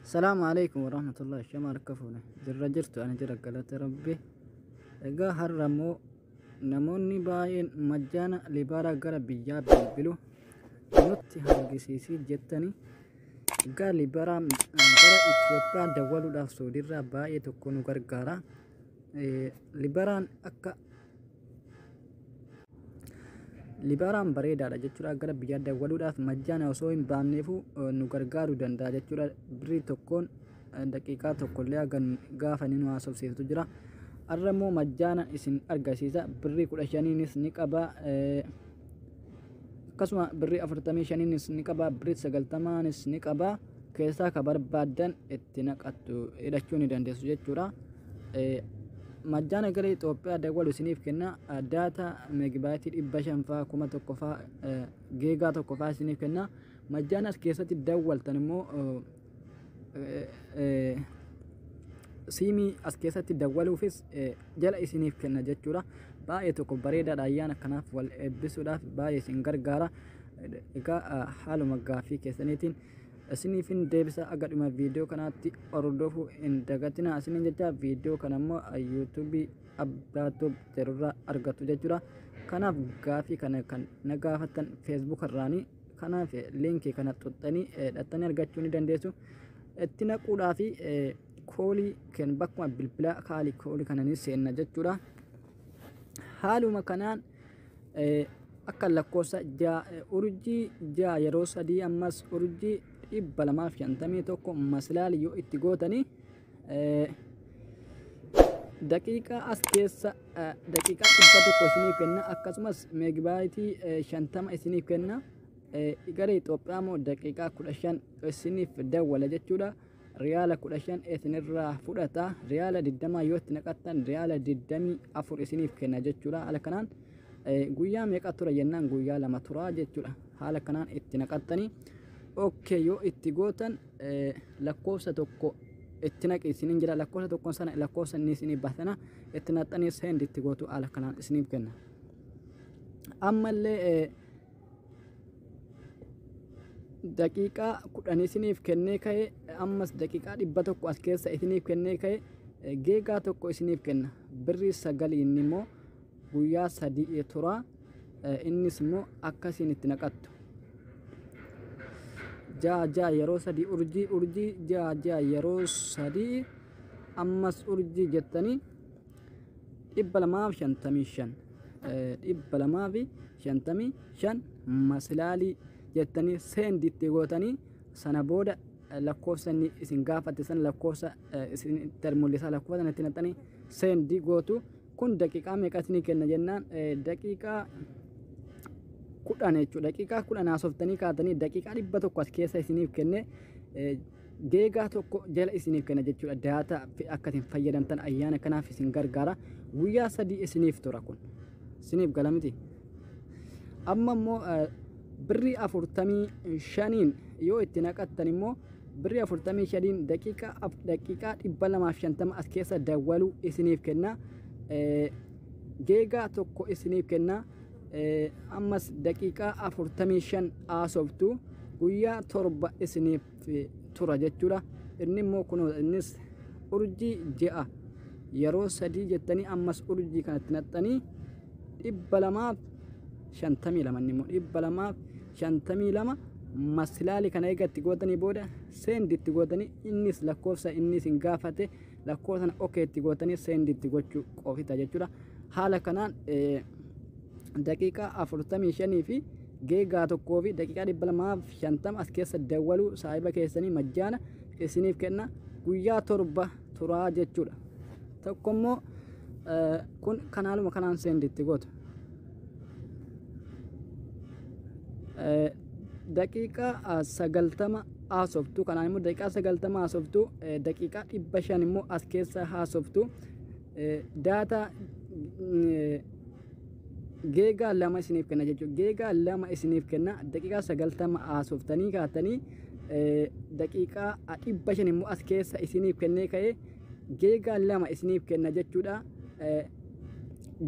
Salaamu alaikum warahmatullahi shama harka fuune jirra jirtu ani jira galata rabbi egaa har'a immoo namoonni baay'een majjaana libaaraa gara biyyaa bilbilu nutti argisiisii jettanii egaa libaaraa gara Itoophiyaa dawwaluudhaaf soodiirraa baay'ee tokko nu gargaara Eh, libaaraan akka Libaaraan bareedaadha jechuudha gara biyyaa dawwaluudhaaf majjaana osoo hin baanneefuu eh, nu gargaaruu danda'a jechuudha birrii tokkoon eh, daqiiqaa tokkollee hagan gaafa ni nu haasofsiistu jira har'a immoo majjaana isin argisiisa birrii kudha shaniinis ni qaba eh, akkasuma birrii afurtamii shaniinis ni qaba birrii sagaltamaanis ni qaba keessaa ka barbaadan itti naqattu hidhachuu ni dandeessu jechuudha majjaana gara Itoophiyaa dawwalu isiniif kenna daata meegibaayitii dhibba shanfaa kuma tokkofaa geegaa tokkofaa isiniif kenna majjaanas keessatti dawwaltan immoo siimii as keessatti dawwaluufis jala isiniif kenna jechuudha baay'ee tokko bareedaadha ayyaana kanaaf wal eebbisuudhaaf baay'ee isin gargaara egaa haaluma gaaffii keessaniitiin isiniifin deebisa aga dhuma viidiyoo kanaatti hordofuu hin dagatina isiniin jecha viidiyoo kana immoo yuutuubii abbaatoo jedhurraa argattu jechuudha kanaaf gaaffii kana kan na gaafattan feesbuukarraanii kanaaf linkii kana xuxxanii dhattanii argachuu ni dandeessu itti naquudhaa fi koolii kan bakkuma bilbila kaalii koolii kana ni seenna jechuudha haaluma kanaan akka lakkoofsa ja'a urjii ja'a yeroo sadii ammas urjii dhibba lamaaf shantamii tokko maslaali yoo itti gootanii daqiiqaa as keessa daqiiqaa dhibba tokko isiniif kenna akkasumas meegibaayitii shantama isiniif kenna gara Itoophiyaa immoo daqiiqaa kudha shan isiniif dawwala jechuudha. Riyaala kudha shan isinirraa fudhata riyaala digdamaa yoo itti naqattan riyaala digdamii afur isiniif kenna jechuudha haala kanaan guyyaa meeqa tura jennaan guyyaa lama tura jechuudha haala kanaan itti naqattanii okkee yoo itti gootan lakkoofsa tokko itti naqi isiniin jira lakkoofsa tokkoon sana lakkoofsa inni isiniif baasana itti naqxanii seendi itti gootu haala kanaan isiniif kenna. Ammallee daqiiqaa kudhan isiniif kennee ka'e ammas daqiiqaa dhibba tokko as keessa isiniif kennee ka'e geegaa tokko isiniif kenna birrii sagaliin immoo guyyaa sadii tura innis immoo akka isiin itti naqattu ja'a ja'a yeroo sadii urjii urjii ja'a ja'a yeroo sadii ammas urjii jettanii dhibba lamaaf shantamii shan dhibba lamaa fi shantamii shan masilaalii jettanii seendi itti gootanii sana booda lakkoofsa inni isin gaafate sana lakkoofsa isin itti mul'isa lakkoofsa sana itti naqxanii seendi gootu kun daqiiqaa meeqatti ni kenna jennaan daqiiqaa kudhan jechuudha daqiiqaa kudhan haasoftanii kaatanii daqiiqaa dhibba tokko as keessa isiniif kenne deegaa tokko jala isiniif kenna jechuudha daataa akka isin fayyadamtan ayyaana kanaaf isin gargaara guyyaa sadii isiniif tura kun isiniif gala miti. amma immoo birrii afurtamii shaniin yoo itti naqattan immoo birrii afurtamii shaniin daqiiqaa af- daqiiqaa dhibba lamaaf shantama as keessa dawwaluu isiniif kenna Eh, geegaa tokko isiniif kenna Eh, ammas daqiiqaa afurtamii shan haasoftu guyyaa torba isiniif tura jechuudha inni immoo kun innis urjii je'a yeroo sadii jettanii ammas urjii kanatti naxxanii dhibba lamaaf shantamii lama inni immoo dhibba lamaaf shantamii lama masilaali kana eegatti gootanii booda seenditti gootanii innis lakkoofsa innis hin gaafate lakkoo sana ok itti gootanii seendi itti gochuu qofita jechuudha haala kanaan daqiiqaa afurtamii shanii fi geegaa tokkoo fi daqiiqaa dhibba lamaaf shantama as keessa dawwaluu saahiba keessanii majjaana isiniif kenna guyyaa torba turaa jechuudha tokko immoo kun kanaaluma kanaan seendi itti gootu daqiiqaa sagaltama haasoftu kanaan immoo daqiiqaa sagaltama haasoftu daqiiqaa dhibba shan immoo as keessa haasoftu daataa geegaa lama isiniif kenna jechuudha geegaa lama isiniif kenna daqiiqaa sagaltama haasoftanii kaatanii daqiiqaa dhibba shan immoo as keessa isiniif kennee ka'ee geegaa lama isiniif kenna jechuudha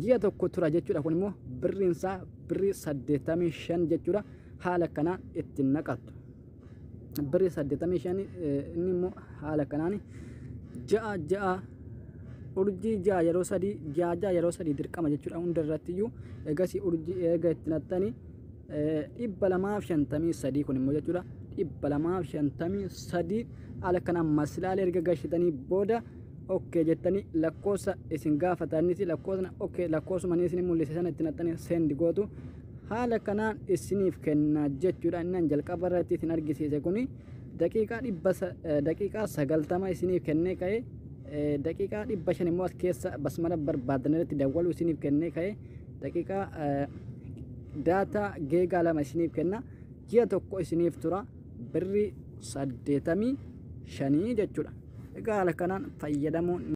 ji'a tokko tura jechuudha kun immoo birriinsaa birrii saddeettamii shan jechuudha haala kanaan ittiin naqattu. birri saddeettamii shanii inni immoo haala kanaan ja'a ja'a urjii ja'a yeroo sadii ja'a ja'a yeroo sadii dirqama jechuudha hunda irratti iyyuu eegasii urjii eega itti naxxanii dhibba lamaaf shantamii sadii kun immoo jechuudha dhibba lamaaf shantamii sadii haala kanaan masilaalee erga gashitanii booda okkee jettanii lakkoofsa isin gaafatanitti lakkoofsa okkee lakkoofsuma isin mul'ise sana itti naxxanii seendi gootu Haala kanaan issiniif kenna jechuudha inni an jalqaba irratti isin argisiise kuni daqiiqaa dhibba sa- eh, daqiiqaa sagaltama isiniif kennee ka'e eh, daqiiqaa dhibba shan immoo as keessa basmala barbaadan irratti dawwaluu isiniif kennee ka'e daqiiqaa eh, daataa geegaa lama isiniif kenna ji'a tokko isiniif tura birrii saddeetamii shanii jechuudha egaa haala kanaan fayyadamuun